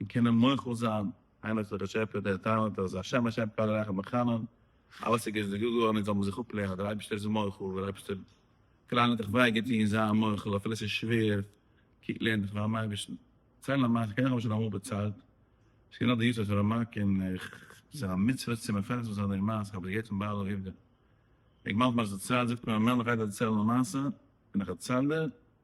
און קענען מוחל זיין, איינער האט דער באשעפער דער טאלאנט אז השם השם כל הרחם וחנון, אלעס איז געזאגט געווארן און זאל מען זיך אפלערנען אז דער אייבערשטער איז מוחל, דער אייבערשטער פלאנט דיך וויי געטון, זיי מוחל אפילו עס איז שווער, קוק לערן דיך פארן אייבערשטן, צייל א מעשה, כנראה האב איך שוין אמאל דערציילט, עס איז געווען א יארצייט פון ר' מאק און איך זיך א מצוה צו מפרסם זיין דעם מעשה, כ'האב עס געהערט פון בעל העובדא, דער גמח מ זצל זאגט מיר אז מ'מער מ'גייט דערציילן א מעשה, און איך דערצייל דיר.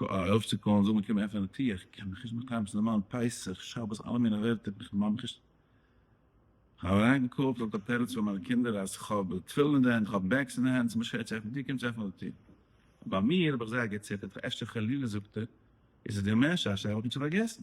ארויפצוקאלן זאגן קום עפן די טיר איך קען מיך נישט באקוועם ס'איז נארמאל פסח שבת אלע מיני ווערטער איך פארמאג מיך נישט איך האב אריין געקאלט אט א תירוץ פאר מיינע קינדער אז איך האב תפילין אין די הענט איך האב בעגס אין די הענט ס'איז מיר שווער צו עפן די טיר קומטס עפן די טיר ביי מיר האב איך זייער געציטערט אפשר חלילה זאגט ער איז עס דיר מער שאשא איך האב נישט פארגעסן.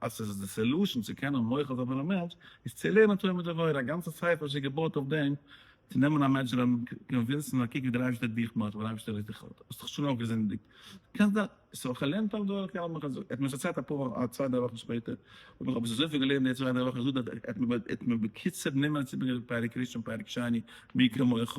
אז עס איז די סעלושען צו קענען מוחל זיין פאר א מענטש איז צו לערנען תורה מיט עבירה, א גאנצע ספר איז שוין געבויט אויף דעם, צו נעמען א מענטש און קאנווינסן אז קוק ווי דער אייבערשטער האט דיך מוחל, דער אייבערשטער איז דיך האט האסט שוין אויך געזינדיגט, דו קענסט דאס, סאו איך האב געלערנט אויף דורך יענעם איך האב געזאגט, ער האט מיר עס ערציילט אפאר וואכן א צוויי דריי וואכן שפעטער, האב איך אבער אזויפיל געלערנט די צוויי דריי וואכן זאגט ער אז ער האט מיר בקיצור נומערן צו ברענגען פרק ראשון פרק שני מי כמוך,